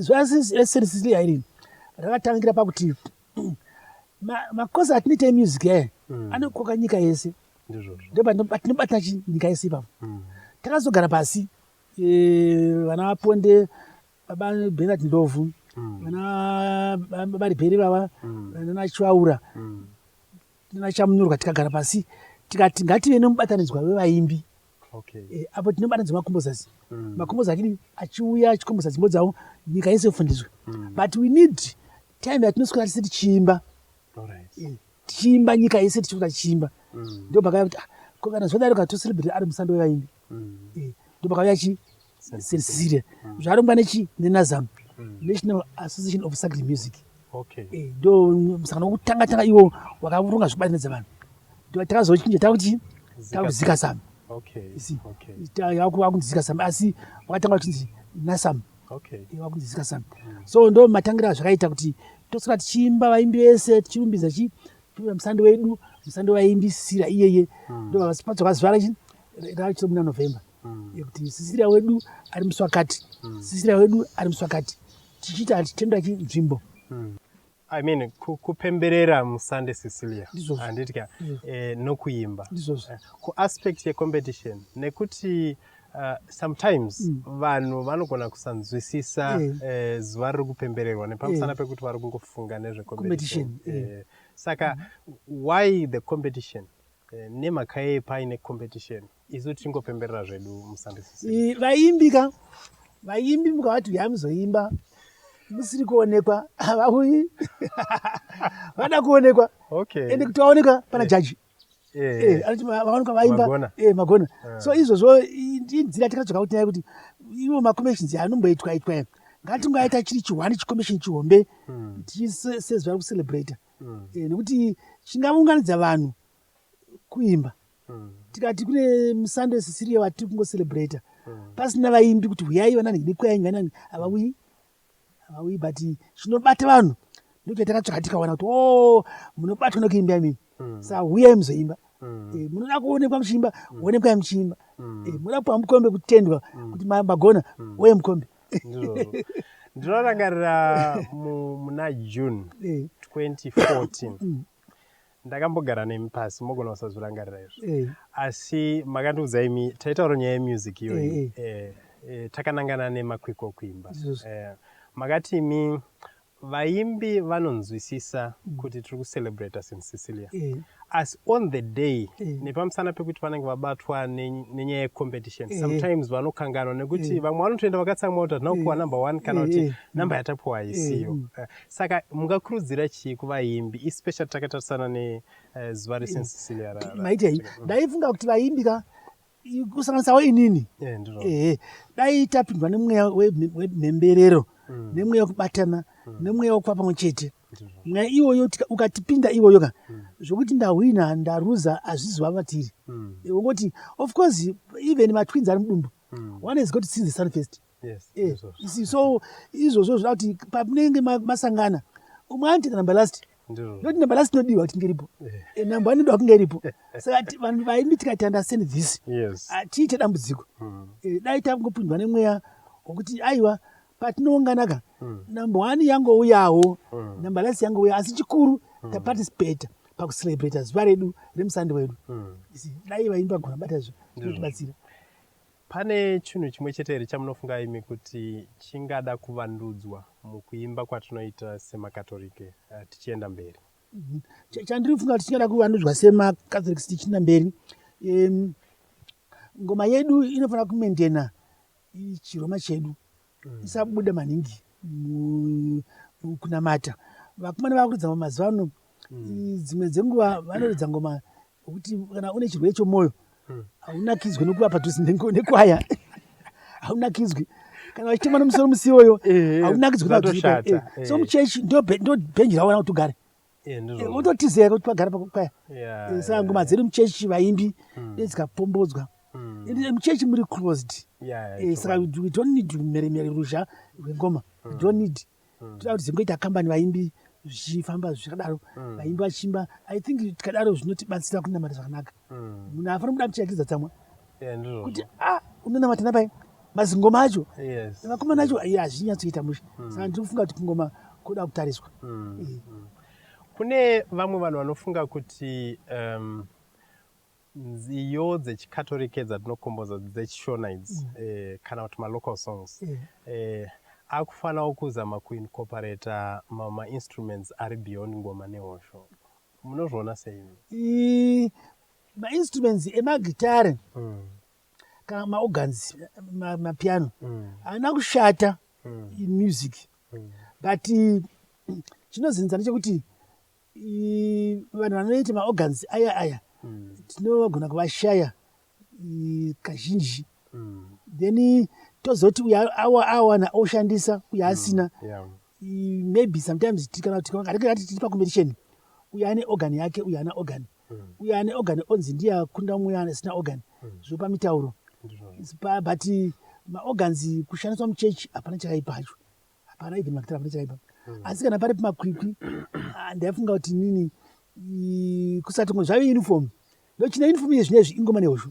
ZvaSerisisili hairi rakatangira pakuti makosi atinoita emusic aye hmm. anokoka nyika yese ndopatinobata chi nyika yese ipapo hmm. takazogara pasi e, vana vaponde baba benard ndovhu hmm. vana baba ribheri vava nanachivaura nanachamunyorwa tikagara pasi tikati ngative nemubatanidzwa wevaimbi okay. e, apo tinobata dzemakumbo zasi mm. makumbo zakidii achiuya achikombosa dzimbo dzavo nyika yese yofundiswa mm. but we need time yatinoswera tise tichiimba right. e, tichiimba nyika yese tichiuta tichiimba mm. ndo pakaya kuti ah, kana zvodaro katoselebrate ari musando wevaimbi mm. e, ndo pakauya chi sirisiria mm. zvarongwa nechi nenazam mm. national association of sacred music eh, ndo musangano wokutanga tanga iwo wakaronga zvekubatanidza vanhu takazochinja takuti takuzika sam yakunzika sam asi wakatanga uchinzi nasam wakunzika eh, sam mm. so ndo matangira azvakaita kuti tosara tichiimba vaimbi vese tichirumbidza chi tichiita musando wedu musando waimbisira iyeye hmm. ndo vavasipatso vazivara chi rachito muna november mm. yekuti sisira wedu ari muswakati mm. sisira wedu ari muswakati tichiita hatitenda chinzvimbo mm. I mean, kupemberera musande sicilia handitya mm. eh, nokuimba eh, kuaspect yecompetition nekuti Uh, sometimes mm. vanhu mm. vanogona kusanzwisisa eh. eh, zuva riri kupembererwa nepamusana eh. pekuti vari kungofunga nezvecompetition eh. eh. saka mm. why the competition eh, nemhaka yei paine competition isu tichingopemberera zvedu musandisisi vaimbi ka vaimbi mukavati huyai muzoimba musiri kuonekwa havauyi vada kuonekwa okay. ende kuti vaonekwa pana yeah. jaji yeah. yeah. anoti vaonekwa vaimba magona, yeah, magona. Yeah. so izvozvo inzira takatsvaka kuti naye kuti ivo macommissions anomboitwa itwa ngatingaita chiri chihwani chicommission chihombe hmm. tichiseziva kucelebrata hmm. eh, nekuti chingaunganidza vanhu kuimba mm. tikati kune musande sisiriyo vatiri kungocelebrata mm. pasina vaimbi kuti huyai vanani nekwayanyi vanani havauyi havauyi but zvinobata vanhu ndokuti takatsvaka tikawana kuti o oh, munobatwa nekuimba imimi mm. sa huyai muzoimba mm. eh, munoda kuonekwa muchiimba mm. onekwai muchiimba mm. eh, munoda kupiwa mukombe kutendwa mm. kuti magona mm. oye mukombe ndinorangarira muna june 2014 eh. mm. Ndakambogara nemi pasi mogona kusazvirangarira izvo eh. asi makandiudza imi taitaura nyaya yemusic iyoyi eh, eh. eh, eh, takanangana nemakwikwa okuimba eh, makati imi vaimbi vanonzwisisa mm. kuti tiri kucelebrata sin sicilia eh. asi on the day eh. nepamusana pekuti vanenge vabatwa nenyaya yecompetition eh. sometimes vanokanganwa nekuti vamwe vanotoenda vakatsamwa kuti hatina kupiwa number one kana kuti number yatapiwa isiyo mm. Saka mungakurudzira chii kuvaimbi especially takatarisana nezuva eh, resensilia maitei ndaifunga kuti vaimbi ka kusanganisawo inini eh, ehe dai tapindwa nemweya wemhemberero mm. nemweya wekubatana mm. nemweya wekuva pamwe chete mweya iwoyo ukatipinda iwoyo ka mm. zvokuti ndahwina ndaruza hazvizova vatiri ungoti of course even matwins ari mudumbu one has got to see the sun first mm. Eh, isi- so izvozvo zvoda kuti pamunenge ma- masangana umwe anoteka number last ndoti number last inodiwa kuti inge iripo Eh, number one inoda kunge iripo saka ti- vanhu vaimbi tikati understand this yes hatiite dambudziko Mm. Eh, dai tangopindwa nemweya wokuti aiwa patinounganaka number one yangouyawo number last yangouya asi chikuru taparticipate pakucelebrata zuva redu remusando wedu Mm. Isi, dai vaimbi vagona bata izvo zvinotibatsira Pane chinhu chimwe chete here chamunofunga imi kuti chingada kuvandudzwa mukuimba kwatinoita semaKatorike eh, tichienda mberi? Mhm. Chandiri kufunga kuti chingada kuvandudzwa semaKatorike tichienda mberi, ngoma yedu inofanira kumentena chiroma chedu isabuda maningi kunamata vakomana vakuridza ngoma mazuva ano hmm. dzimwe dzenguva vanoridza ngoma kuti kana une chirwere chomwoyo hmm. haunakidzwe nokuva padhuze nekwaya haunakidzwe kana vachitemwa nomusoro musiwoyo haunakidzwe so muchechi ndo bhenji rawana kuti ugare eh, mototiza here kuti pagara pakwaya eh, saka ngoma dzedu muchechi vaimbi hmm. nedzikapombodzwa hmm. eh, muchechi muri closed saka we don't need mheremhere ruzha rwengoma we hmm. don't need toda kuti zingoita kambani vaimbi zvichifamba zvakadaro vaimbi vachimba i think tikadaro zvinotibatsira kunamata zvakanaka munhu afana kuda muchiyakidza tsamwa kuti ah, unonamata napai mazingoma acho vakomana acho iye hazvinyatsoita mushe hmm. saka ndiri kufunga kuti kungoma kuda kutariswa hmm. eh. hmm. kune vamwe vanhu vanofunga kuti um, nziyo dzechikatorike dzatinokomboza dzechishona idzi eh, kana kuti malocal songs eh. eh, akufanawo kuzama kuincoperata mamwe mainstruments ari beyond ngoma nehosho munozviona sei mainstruments emagitare mm. kana maorgans mapiano mm. haana kushata mm. in music mm. but chinozinza ndechekuti vanhu vanoita maorgans aya aya mm. tinogona kuvashaya kazhinji mm. then tozoti uya awana oshandisa uya mm. asina mm. yeah. maybe sometimes tikana kuti kana tiri pacompetition uya ane organ yake uya ana organ mm. mm. uyo ane organ onzi ndiye akunda umwe asina organ mm. zvopa mitauro but maorgans kushandiswa muchechi hapana chakaipa acho hapana even makitara hapana chakaipa mm. asi kana pari pamakwikwi ah, ndaifunga kuti nini kusati ngo zvave uniform ndochina uniform iye zvinezvi ingoma nehosho